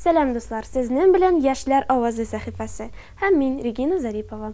Сәлам дуслар, сезнен белән Яшьләр авазы сәхифәсе һәм мин Регина Зарипова.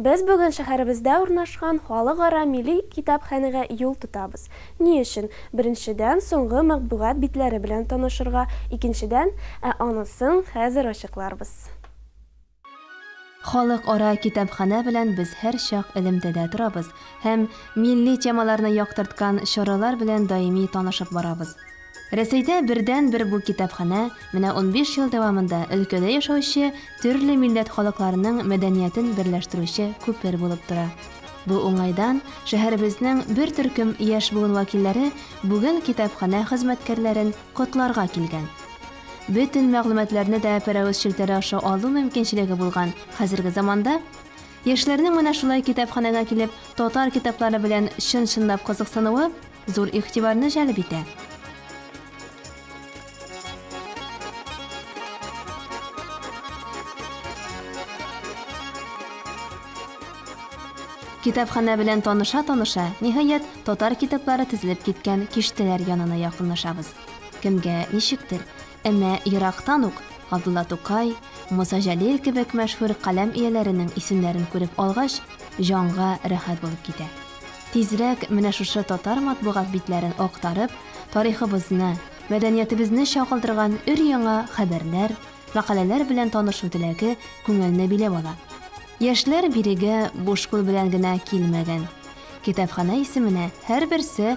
Без бүген шәһәребездә урнашкан Халыкара милли китапханәгә юл тотабыз. Ни өчен? Беренчедән, соңгы матбугат битләре белән танышырга, икенчедән, ә анысын хәзер ачыкларбыз. Халыкара китапханә белән без һәрчак элемтәдә торабыз һәм милли темаларны яктырткан чаралар белән даими танышып барабыз. Рәсәйдә бердәнбер бу китапханә менә унбиш ел дәвамында өлкәдә яшәүче төрле милләт халыкларының мәдәниятен берләштерүче күпер булып тора. Бу уңайдан шәһәребезнең бер төркем яшь буын вәкилләре бүген китапханә хезмәткәрләрен котларга килгән. бөтен мәгълүматларны да пәрәвез челтәре аша алу мөмкинчелеге булган хәзерге заманда, яшьләрнең менә шулай китапханәгә килеп татар китаплары белән чын-чынлап кызыксынуы зур игътибарны җәлеп итә. Китапханә белән таныша-таныша, ниһаять, татар китаплары тезелеп киткән киштәләр янына якынлашабыз. Кемгә ничектер, әмма ерактан ук Габдулла Тукай, Муса Җәлил кебек мәшһүр каләм ияләренең исемнәрен күреп алгач, җанга рәхәт булып китә. Тизрәк менә шушы татар матбугат битләрен актарып, тарихыбызны, мәдәниятебезне чагылдырган өр-яңа хәбәрләр, мәкаләләр белән танышу теләге күңелне биләп ала. Яшьләр бирегә буш кул белән генә килмәгән. Китапханә исеменә һәрберсе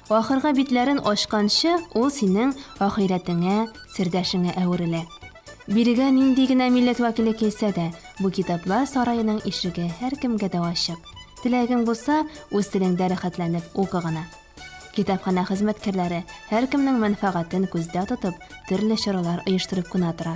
Ахыргы битләрен ачканчы, ул синең ахирәтеңә, сердәшеңә әверелә. Бирегә нинди генә милләт вәкиле килсә дә, бу китаплар сараеның ишеге һәркемгә дә ачык. Теләгең булса, үз телеңдә рәхәтләнеп укы гына. Китапханә хезмәткәрләре, һәркемнең мәнфәгатен күздә тотып, төрле чаралар оештырып кына тора.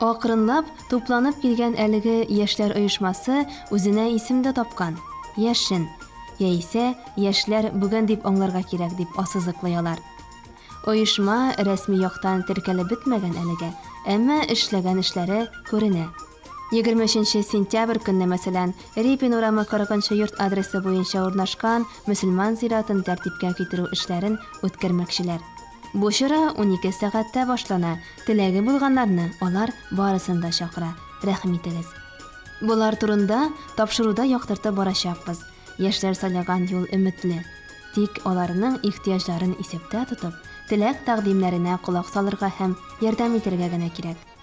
Акрынлап тупланып килгән әлеге яшьләр оешмасы үзенә исем дә тапкан, Яшен, яисә Яшьләр бүген дип аңларга кирәк, дип ассызыклый алар. Оешма рәсми яктан теркәлеп бетмәгән әлегә, әмма эшләгән эшләре күренә. Егерме өченче сентябрь көнне, мәсәлән, Репин урамы кырыгынчы йорт адресы буенча урнашкан мөселман зиратын тәртипкә китерү эшләрен үткәрмәкчеләр. Бу чара унике сәгатьтә башлана, теләге булганнарны алар барысын да чакыра, рәхим итегез. Болар турында тапшыруда яктыртып барачакбыз, яшьләр сайлаган юл өметле. Тик аларның ихтыяҗларын исәптә тотып, теләк-тәкъдимнәренә колак салырга һәм ярдәм итәргә генә кирәк.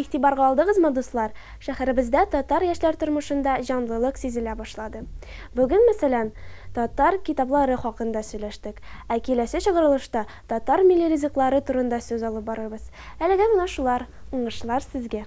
Игътибарга алдыгызмы, дуслар, шәһәребездә татар яшьләр тормышында җанлылык сизелә башлады. Бүген, мәсәлән, татар китаплары хакында сөйләштек, ә киләсе чыгарылышта татар милли ризыклары турында сүз алып барырбыз. Әлегә менә шулар, уңышлар сезгә!